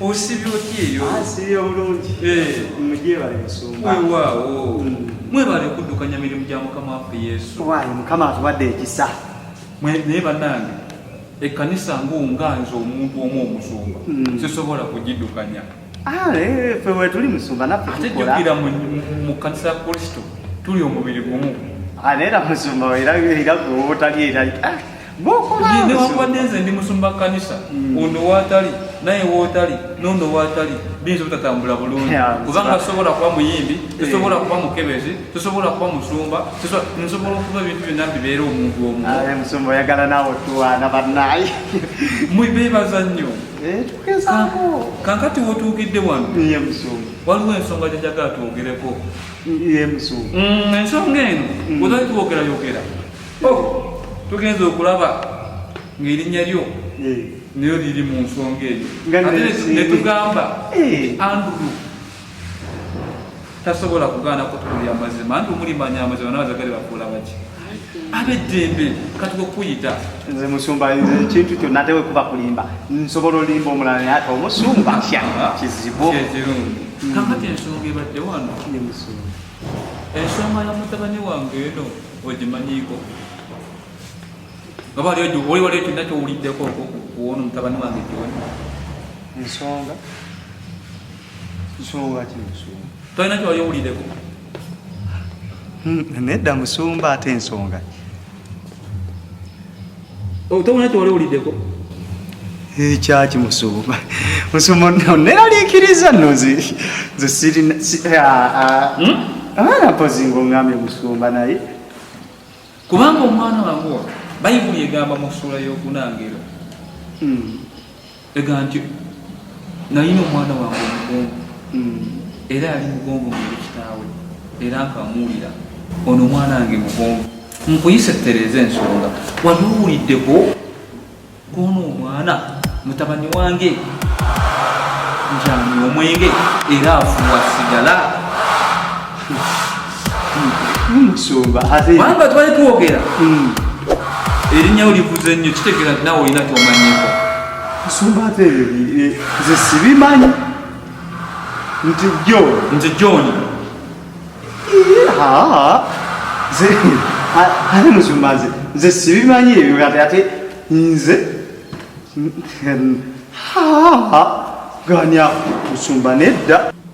osibye otya eyo asibye ah, bulungi eh. mugyebale musumba wewaawo hmm. mwebale okuddukanya mirimu gya mukama waffe yesu wayi mukama atuwadde ekisa naye banange ekkanisa ngaonganza omuntu omu omusumba hmm. sisobola kugiddukanya ah, eh, fe wetuli musumba naffeatejukira mu kkanisa ya kristo tuli omubiri gumu ah, naye era musumba era gweobutali era newankubadde nze ndi musumba kanisa mm. ono waatali naye wootali nono waatali biyinza obutatambula bulungi kubanga tusobola kuba muyimbi eh. tusobola kuba mukebezi tusobola kuba musumba nsobola okuba ebintu byonna bibeera omuntu omumusumbaoyagala naawe tuwaana banaye mwebeebaza nnyo eh, kankati wotuukidde wano waliwo ensonga gyenjagala twogereko mm, ensonga eno mm. ozaitwogerayogera tugenze okulaba ng'erinnya lyo nayo liri mu nsonga eyo netugamba andulu tasobola kugaana kutukulira amazima anti omulimanya amazima nabazagali bakuula baki abeddembe katuka okukuyita nze musumba nze ekintu kyonna ate wekuba kulimba nsobola olimba omulala naye ate omusumba kya kizibu kakati ensonga ebadde wano ensonga ya mutabani wange eno ogimanyiiko oba ali oli wali ekyonna kyowuliddeko kuwona omutabani wange kiwona ensonga nsonga ki ensonga tolina kyewali owuliddeko hmm, nedda musumba ate ensonga Oh, tewona kyewali owuliddeko ekyaki eh, musumba musumba no neraliikiriza no nze sirina abaana mpozi ngaoŋambye musumba naye kubanga omwana wange bayibuli egamba mu ssuula y'okunangero hmm. ega nti nalina omwana wange omugongo hmm. era yali mugongo muli kitaawe era nkamuwulira ono omwana wange mugongo nkuyise tereeza ensonga wali owuliddeko kwono omwana mutabani wange njani omwenge era afuwa sigala wamba twali twogera hmm. erinnya olivuze nnyo kitegeera nti nawe olina kyomanyeko nsumba ate ebyo nze sibimanyi nti jo nze joni ate musumba nze nze sibimanyi ebyo ate ate nze ganya musumba nedda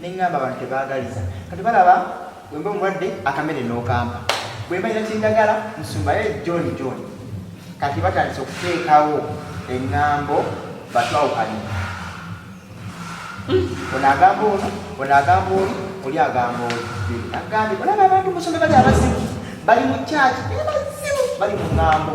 neŋŋamba abantu tebaagaliza kati balaba bwemba omulwadde akamere n'okampa bwembalira kindagala nsumbayo john john kati batandise okuteekawo eŋŋambo batwawukanye hmm. ono agamba ono ono agamba oli oli agamba oli agambye olaba abantu musombe bali abazibu bali mu kyaki bali mu ŋŋambo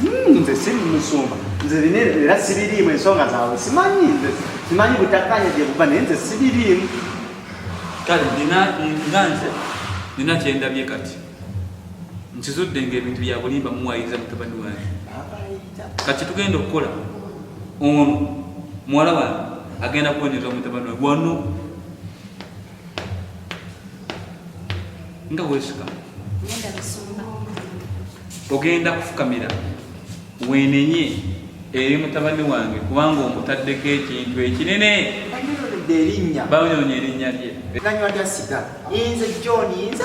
Hmm, nze si musumba nze bino era sibiriimu ensonga zaabwe simanyi nze simanyi butakanya gye buva naye nze sibiriimu kale nina nga nze nina kyendabye kati nkizudde nga ebintu byabulimba muwayiriza mutabani wange kati tugenda okukola ono muwala wange agenda kuwonyeza mutabani wange wano nga wesika ogenda kufukamira wenenye eri mutabani wange kubanga omutaddeko ekintu ekinene banyonya erinnya lye nanywa lyasiga inze john inze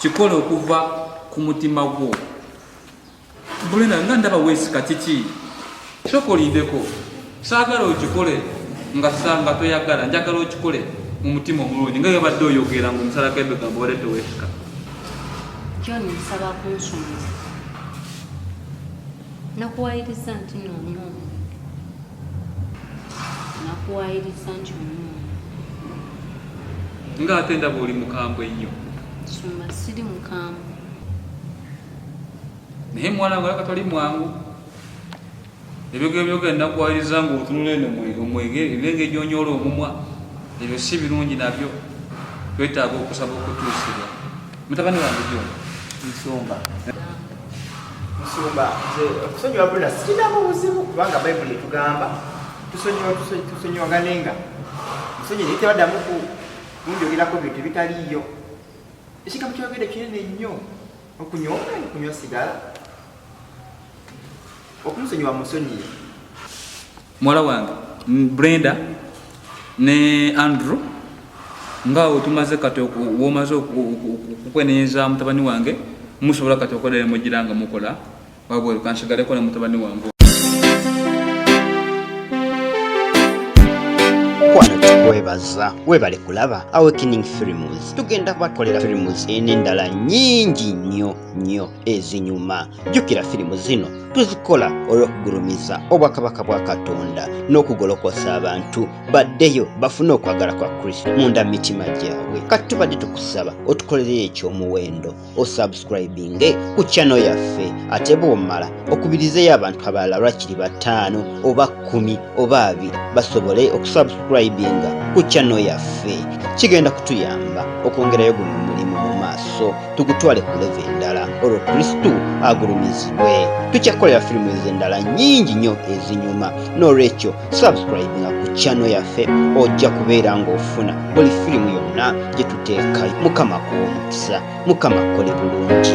kikole okuva ku mutima gwo bulena nga ndaba wesika kiki soka olindeko saagala okikole nga sanga toyagala njagala okikole mu mutima omulungi nga yobadde oyogera nga omusalako ebigambo wade tewesika kyona nsaba kunsumuza nakuwayiriza nti nomuomu nakuwayiriza nti omuomu nga ate ndaba oli mukambwe nnyo sumba siri mukambwe naye mwana nga laka tali mwangu ebyogero byogera nakuwayiriza nga otunula eno omwegere ebinenge gyonyoola omumwa ebyo si birungi nabyo twetaaga okusaba okutuusibwa Mutabani wange jyo nsumba nsumba nze okusonyiwa bula sirinamu buzibu kubanga bayibuli etugamba tusonyiwa tusonyiwaganenga musonyi naye tebaddamu kunjogerako bintu ebitaliiyo ekigambo kyogere kinene nnyo okunywa omwani kunywa sigala okumusonyiwa musonyiye muwala wange brenda ne andrew nga otumaze kati womaze okukwenenyeza mutabani wange musobola kati okolera mugira nga mukola wabweru kansigaleko ne mutabani wange kwebaza webale kulaba awakening films tugenda bakolera films enendala nyingi nyo nyo ezinyuma jjukira firimu zino tuzikola olw'okugulumiza obwakabaka bwa katonda n'okugolokosa abantu baddeyo bafune okwagala kwa kristo munda mu mitima gyabwe kati tubadde tukusaba otukolereyo eky'omuwendo osubscribinge ku kyano yaffe ate bw'omala okubirizeyo abantu abalala lwakiri bataano oba kkumi oba abiri basobole okusubscribinga ku kyano yaffe kigenda kutuyamba okwongerayo guno omulimu mu maaso tugutwale ku leve endala olwo kristu agulumizibwe tukyakukolera firimu ezo endala nyingi nnyo ezinyuma n'olwekyo subscribinga ku kyano yaffe ojja kubeera ng'ofuna buli firimu yonna gye tuteekayo mukama kuwomukisa mukama kole bulungi